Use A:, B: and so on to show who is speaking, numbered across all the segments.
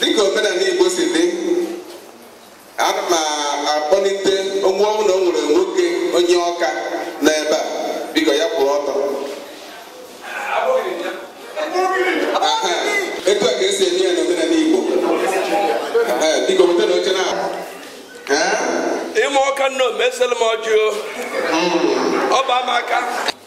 A: dịka omenala Igbo si dị ana m akpọlite ọ bụrụ na o nwere nwoke onye Ọka n'ebe a biko ya kwụrụ ọtọ Aha, etu a ka esi eme ya n'omenala Igbo Ee, biko weta na oche na Ee? ime ọka nna omesịrị m ọjị o ọ bụ ama aka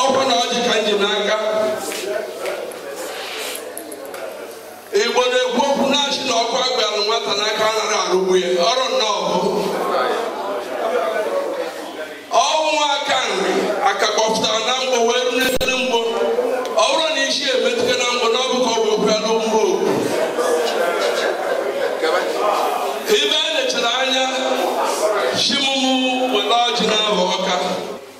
A: ọ bụ na ọjị ka m ji n'aka igbo na-ekwu okwu na-asị na ọkụ agbalụ nwata n'aka anaghị arụgbu ya ọrụ nnọọ bụ ọnwụ aka nri aka kpọpụtara na mgbo wee ru n'efere mgbo ọ bụrụ na isi emetụta na mgbo na ọ bụ ka ọ bụ ekwe anụ mgbo ibe a na-echere anya chimụmụ were ọjị na-abụ ọka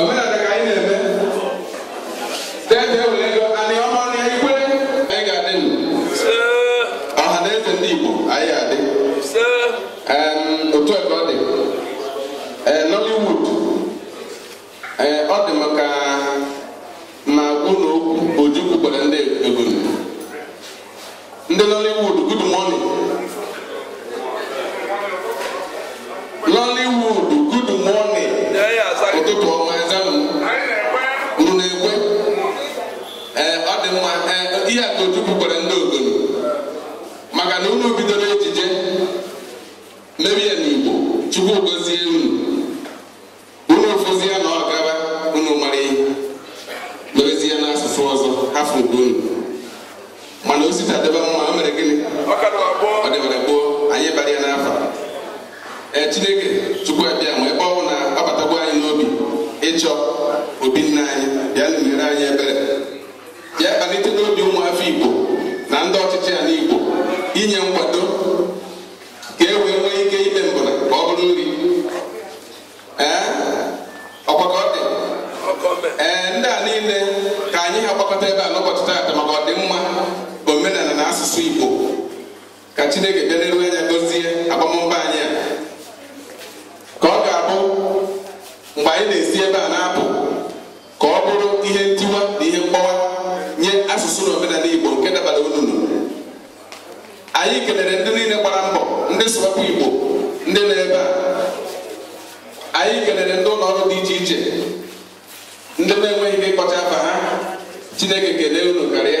A: Omenala ka anyị na-eme. Tete were ego Anioma na Ikwerre anyị ga-adị ndụ. Ọha na eze ndị Igbo anyị ga-adị. Em, Otu a ka ọ dị. Ee, Nollywood. Ee, ọ dị m ka m gwa unu okwu Ojukwu gwara ndị Ogoni. ndị Nollywood good morning Nollywood good morning ụtụtụ ọma ezanụ unu na-ekwe ee ọ dị mma ee ihe a ka Ojukwu gwara ndị Ogoni maka na unu bidoro ejije mebe ya n'Igbo Chukwu gozie unu unu fụzi ya na ọ gaba unu mara ihe merezi ya n'asụsụ ọzọ hafụ nke unu mana o si taa dịba mma o mere gịnị ọ dịbara gboo anyị bara ya n'afa ee chineke Chukwu Abịama ebe ọ bụ na ọ batagwo anyị n'obi ịchọ obi nna anyị bịanụ meere anyị ebere bịa kpalite n'obi ụmụafọ igbo na ndị ọchịchị ala igbo inye nkwado Ee, ọkwa ka ọ dị ee ndị a niile ka anyị ha gbakọta ebe a n'ụbọchị taata maka ọdịmma omenala na asụsụ igbo ka chineke bi n'igwe anya gozie agbammbọ anyị a ka ọ ga-abụ mgbe anyị na-esi ebe a na-apụ ka ọ bụrụ ihe ntiwa na ihe mgbawa nye asụsụ na omenala Igbo nke dabara ununu anyị kelere ndị niile gbara mbọ ndị Sụwakwa Igbo ndị nọ ebe a anyị kelere ndị ụlọ ọrụ dị iche iche ndị na-enweghị ike ịkpọcha afa ha Chineke kelee unu karịa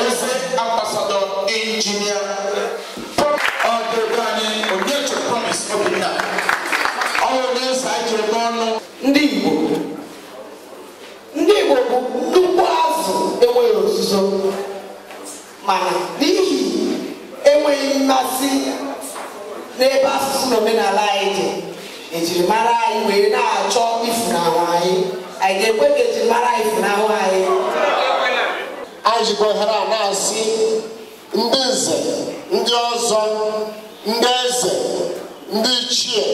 A: eze ambasadọ injinia ọdịbe anyị onyeche promis obinna ọrụ na-esa ji eme ọnụ ndị igbo ndị igbo bụ nnukwu azụ enweghị ozuzo mana n'ihi enweghị mmasị n'ebe asụsụ na omenala anyị dị ejirimara anyị wee na-achọ ifunahụ anyị anyị ga-ekwe ka ejirimara anyị funahụ anyị anyị jikwa ohere a na-asị ndị nze ndị ọzọ ndị eze ndị ichie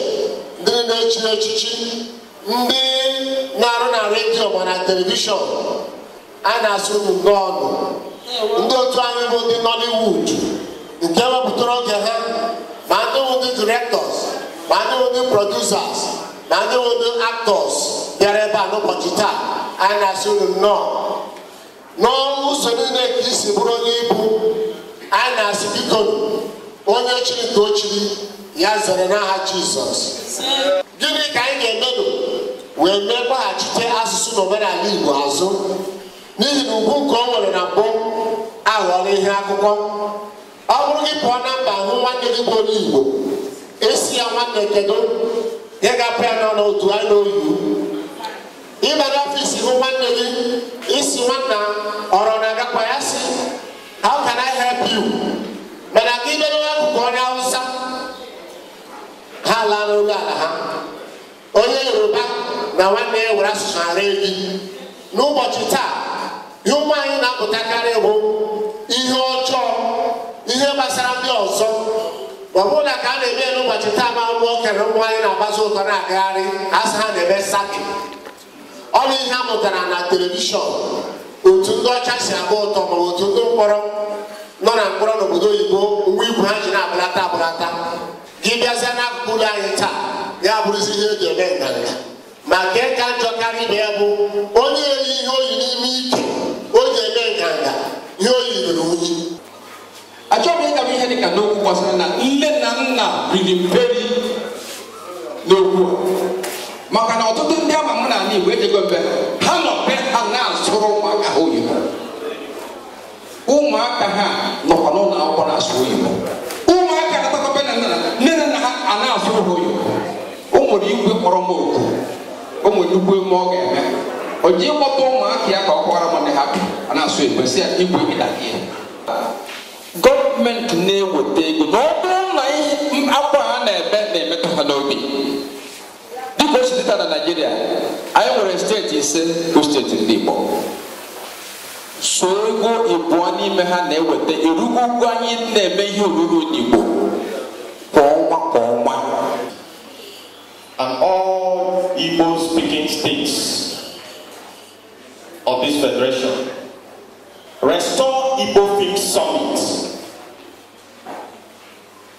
A: ndị na-echi echichi ndị na-arụ na redio ma na telivishọn anyị na-asị unu nnọọnụ ndị otu anyị bụ ndị Nollywood nke wepụtara oge ha ma ndị bụ ndị directors ma ndị bụ ndị producers ma ndị bụ ndị actors bịara ebe a n'ụbọchị taa anyị na-asị unu nnọọ n'ụzọ niile ka isi bụrụ onye ibu anyị na-asị bikonu onye chiri ka o chiri ya zere n'aha Jizọs gịnị ka anyị ga-emenụ wee mee weghachite asụsụ na omenala Igbo azụ n'ihi na ugwu nke o nwere na mbụ aghọọla ihe akụkọ ọ bụrụ gị pụọ na mba hụ nwanne gị bụ onye Igbo ị sị ya nwanne kedu ihe ga-apụ ya n'ọnụ otu anya n'oyibo ị baa n'ọfịs hụ nwanne gị ị sị nwanna ọrụ na-agakwa ya sị how can I help you mana ka ibe n'akụkụ onye Hausa ha laa n'oge ala ha onye yoruba na nwanne ya were asụsụ ara ebi n'ụbọchị taa ihe ụmụ anyị na-amụtakarị bụ ihe ọjọọ ihe gbasara ndị ọzọ ọ bụrụ na ka a na-eme n'ụbọchị taa ma ụmụ nwoke na ụmụ nwanyị na-agbazi ọtọ na-agagharị a sị ha na-eme sagging ọ bụ ihe a mụtara na telivishọn otu ndị ọcha si agba ọtọ ma otu ndị mkpọrọ nọ na mkpọrọ n'obodo oyibo mgbe uwe ha yi na-agbadata agbadata gị bịazịa n'akụkụ ụlọ anyị taa ya bụrụzi ihe eji eme nganga ma nke ka njọ karịa ibe ya bụ onye ewere ihe o yi n'ime ike o ji eme nganga ihe o yi ruru unyi achọghị ịgaba ihe dị ka n'okwu gbasara na nne na nna riri mperi n'okwu maka na ọtụtụ ndị ama mụ na ala Igbo ejego m be ha nọ be ha na-asụrụ ụmụaka ha oyibo ụmụaka ha nọkwa n'ụlọ akwụkwọ na-asụ oyibo ụmụaka natakwa be nna nne na nna ha a na-asụ ha oyibo o nwere igwe kpọrọ m oku o nwere nnukwu emume ọ ga-eme o ji ịkpọta ụmụaka ya ka ọ kọwara m ndị ha bụ a na-asụ igwe si ya igwe ịda gị gọọmenti na-eweta ego na ọ bụrụ na ihe akwa ha na-ebe na-emetụ ha n'obi dịka o si dị taa na naijiria anyị nwere steeti ise bụ steeti ndị igbo so ego ịbụọ n'ime ha na-eweta erugo ụgwọ anyị na-eme ihe nkiri n'igbo kwa ọnwa kwa ọnwa and all igbo speaking states of this federation restore igbo film summit